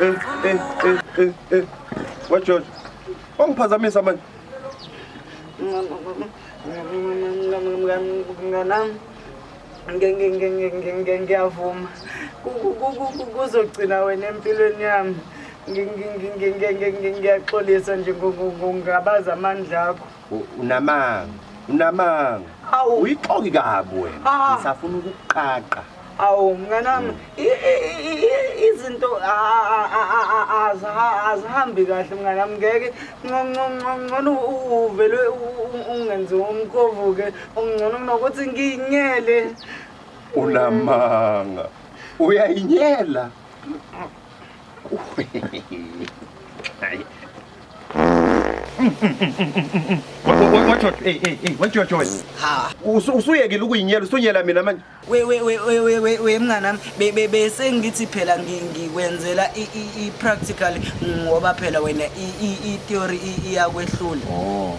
Eh, eh, eh, eh, eh. Wa George. Wangiphazamisa manje. Nganam. Ngiyavuma. Kuzogcina wena empilweni yami. Ngiyaxolisa nje ngokungabaza amandla akho. Unamanga, unamanga. Awu uyixoki kabi wena. Ah. Ngisafuna ukuqaqa. Awu mnganami izinto azihambi kahle mnganami ngeke ngcono uvele ungenze umkhovu-ke ungcono kunokuthi ngiyinyele unamanga uyayinyela usuyekile ukuyinyela usunyela mina manje we mnganami bese ngithi phela ngikwenzela i-practical ngoba phela wena i-theory iyakwehlula oh,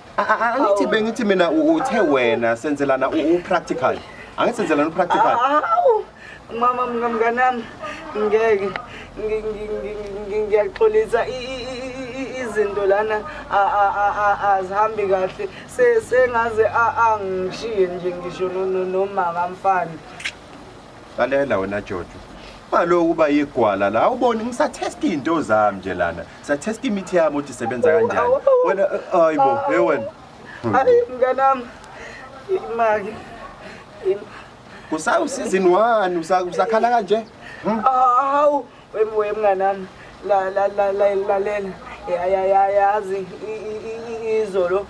angithi bengithi mina uthe wena senzelana u-practical angithi senzelana u-practical mama mngamnganami ngeke ngiyaxolisa izinto lana azihambi kahle sengaze angishiye nje ngisho nomaka mfana lalela wena jojo ungaloku uba yigwala la awuboni ngisathesta iy'nto zami nje lana ngisathesta imithi yami ukuthi isebenza kanjani wena eh, hayi bo he wena hayi mnganami imaki kusawusizini wani Usa- usakhala kanje hawu Webuye mnganami la la la la lalela ya ya ya yazi izolo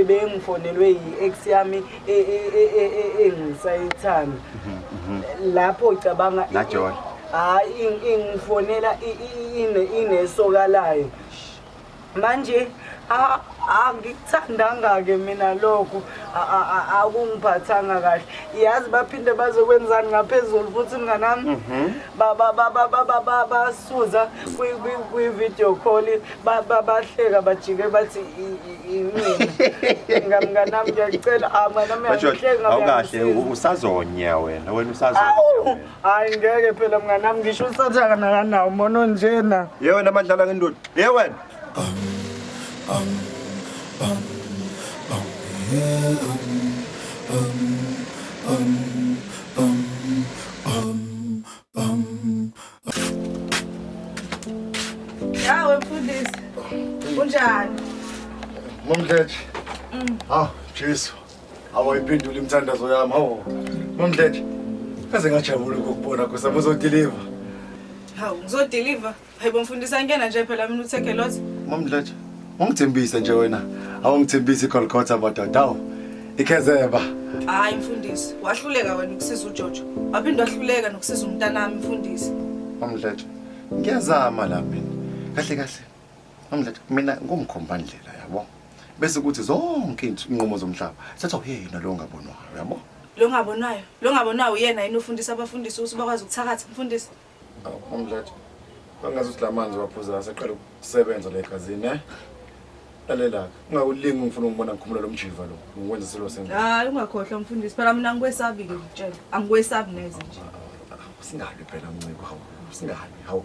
bengifonelwe yi-ex yami e, e, e, engisayithanda mhm, mhm. lapho cabanga hayi ingifonela inesoka layo manje angikuthandanga-ke mina lokho akungiphathanga kahle yazi baphinde bazokwenzani ngaphezulu futhi mnganami mhm. basuza kwi-video call bahleka bajike bathi imina mnganami ngiyacela mnganami awukahle usazonya wena wena usazonya Hayi ngeke phela mnganami ngisho usathaka nakanawo mona onjena. Ye wena amadlala ngendoda. Ye wena. Yawe mfundisi. Unjani? Mamdleje. Ah, Jesu. awayiphendula imithandazo yami hawu mamdletshe kaze ngajabula ukukubona kosa muzodiliva hawu ngizodiliva hayibo mfundisa ngena nje phela mina uthekhe lothi mamdletshe ungithembise nje wena awungithembisi igolgotha madoda hawu ikhezeba hayi mfundisi wahluleka wena ukusiza ujojo waphinde wahluleka nokusiza umntanami mfundisi mamdletshe ngiyazama la mina kahle kahle Amlet mina ngumkhombandlela yabo. Bese kuthi zonke inqumo zomhlaba sethu uyena lo ngabonwayo yabo. Lo ngabonwayo, lo ngabonwayo uyena yini ufundisa abafundisi ukuthi bakwazi ukuthakatha mfundisi. Amlet bangazi ukuthi lamanzi waphuza aseqala ukusebenza la egazini eh. Lalela ungawulingi ungifuna ungibona ngikhumula lomjiva lo. Ngikwenza silo senga. Hayi ungakhohlwa mfundisi phela mina ngikwesabi ke ngitshela. Angikwesabi neze nje. Singabi phela mnciko hawu. Singabi hawu.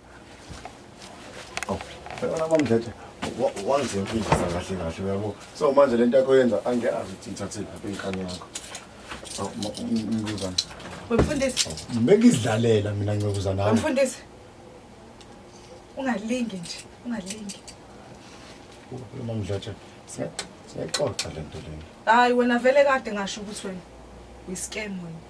Wena mama Mdletshe wangizemfundisa kahle kahle uyabo. So manje lento yakho yenza angiyazi ukuthi ngithathile lapha inkani yakho. Mnguzana. Wemfundisi. Bengizidlalela mina ngiyokuza nawe. Wemfundisi. Ungalingi nje, ungalingi. Mama Mdletshe, siyaxoxa lento lena. Hayi wena vele kade ngasho ukuthi wena uyiscam wena.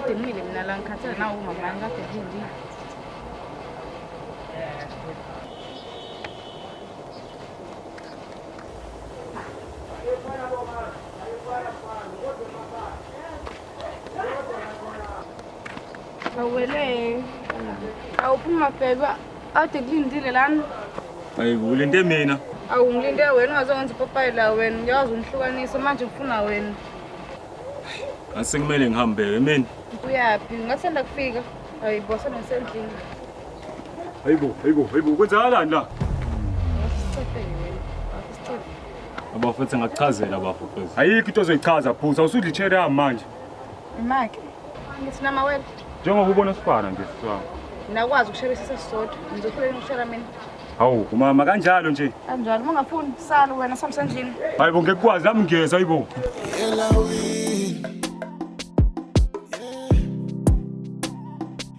kade ngimile mina la ngikhathele nawo umama wami kade ngilindile Awele. Awuphuma bheka. Awude kulindile lana. Ayibo ulinde mina. Awu ngilinde wena ungazowenza ipopayi la wena. Ngiyazi ungihlukanisa manje ngifuna wena. Ngase kumele ngihambe yemini. Uyaphi? Ngasanda kufika. Ayibo sona ngisendlini. Ayibo, ayibo, ayibo kwenzakalani la? Ngasicefe wena. Ngasicefe. Abafethu ngakuchazela abafethu. Ayikho into ozoyichaza phuza usudla ichair yami manje. Imake. Ngithi nama wena. Njengoba ubona sifana nje siswa. Nakwazi ukusherisa sesisodwa. Ngizofuna ukushera mina. Hawu umama kanjalo nje. Kanjalo uma ungafuni sala wena samsendlini. Hayibo ngekwazi nami ngiyeza hayibo. Yelawini.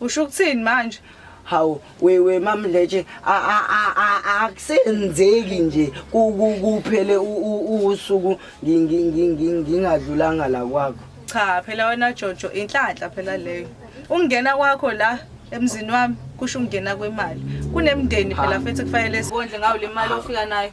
Usho ukuthini manje? Hawu wewe mamletshe akusenzeki nje kuphele usuku ngingadlulanga la kwakho. Cha phela wena Jojo inhlanhla phela leyo. Ungena kwakho la emzini wami kusho ungena kwemali. Kunemndeni phela futhi kufanele sikondle ngawo le mali ofika nayo.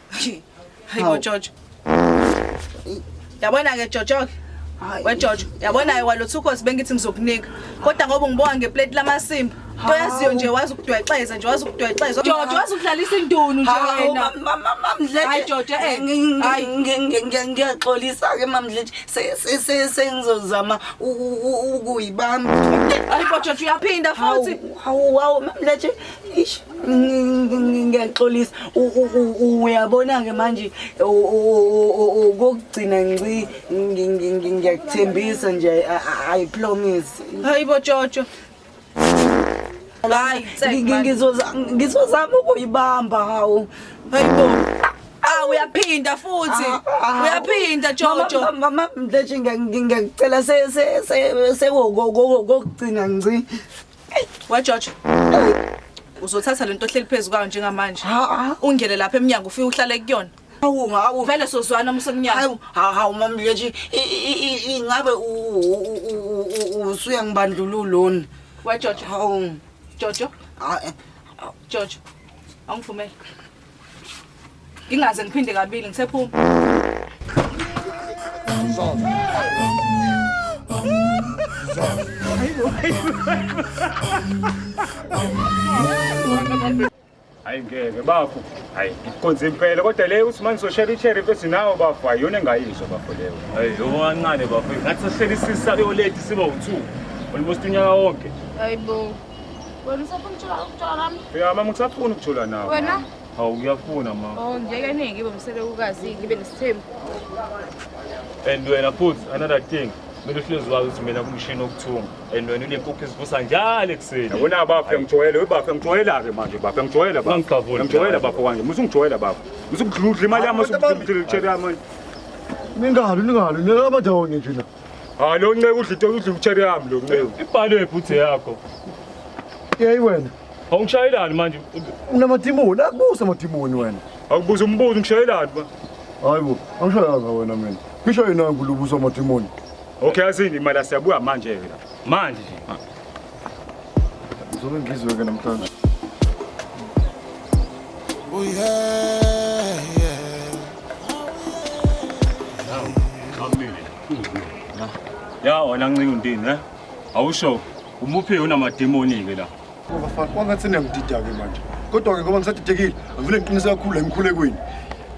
hayi bo jojo yabona ke jojo ke wejojo yabona ke walotha ukhosi bengithi ngizokunika kodwa ngoba ngibonga ngeplate lamasimba into yaziyo nje wazi ukudwexeza nje wazi ukudwexeza jojo wazi ukudlalisa indunu nje wena mamamdletshe jojo eh ngiyaxolisa ke mamdletshe sengizozama ukuyibamba hayi jojo uyaphinda futhi hawu hawu mamdletshe Eish, ng- ng- ngiyaxolisa U- u- u- u- uyabona-ke manje u- u- u- u- ukokugcina nci ngi- ngi- ngi- ngiyakuthembisa nje I- I- i promise hayi bo jojo hayi Ngi- tsek ngi- man. ngizoza- ngizozama ukuyibamba hawu hayi bo ah uyaphinda futhi Ah, uyaphinda jojo Mama, mama, mama, mdletshe ngiya- ngi- ngiyakucela se- se- se- sekokugcina nci Wa George. Uzothatha lento ohleli phezulu kwayo njengamanje. Ungene lapha eminyango ufike uhlale kuyona. Hawu hawu vele sozwana umsemnyama. Hawu hawu mamle nje ingabe usuya ngibandlululoni. Wa George. Hawu. Jojo. Hayi. Jojo. Angivumele. Ingaze ngiphinde kabili ngisephuma. Hayi ngeke bafo. Hayi ngikonze impela kodwa le uthi manje soshare i-cherry mfethu nawo bafo ayona engayizwa bafo leyo. Hayi yoko kancane bafo. Ngathi sohlele isisa yoledi siba u2. Almost unyaka wonke. Hayibo. Wena usafuna ukuthola ukuthola nami? Ya mama ngisafuna ukuthola nawe. Wena? Hawu ngiyafuna mama. Oh ngeke ningi ngibe umselekukazi ngibe nesithembu. And wena futhi another thing kumele uhlezi wazi ukuthi mina kumshini okuthunga and wena unempuphu ezivusa njalo ekuseni yabona bafo ngijwayele we bafo ngijwayela-ke manje bafo ngijwayela ngijwayela bafo kanje musa ungijwayela bafo musa ukudludla imali yami musa ukudludla yami manje ningalu ningalu ningabajonge nje la Hayi lo nceku udla into udla ucherry yami lo nceku. Ibhalo ebhuthe yakho. Yeyi wena. Awungishayelani manje? Unamadimoni, akubusa amadimoni wena. Awubuza umbuzo ngishayelani ba? Hayi bo, angishayanga wena mina. Ngisho yena ngulubusa amadimoni. Okay azini imali asiyabuya manje ke la. Manje nje. Zobe ngizwe ke namhlanje. Oh yeah, yeah. Now, come in. Ya wena ncinga untini, eh? Awusho umuphi unamademoni ke la. Bafana kwangathi niyangidida ke manje. Kodwa ke ngoba ngisadidekile, ngivule ngiqinise kakhulu emkhulekweni.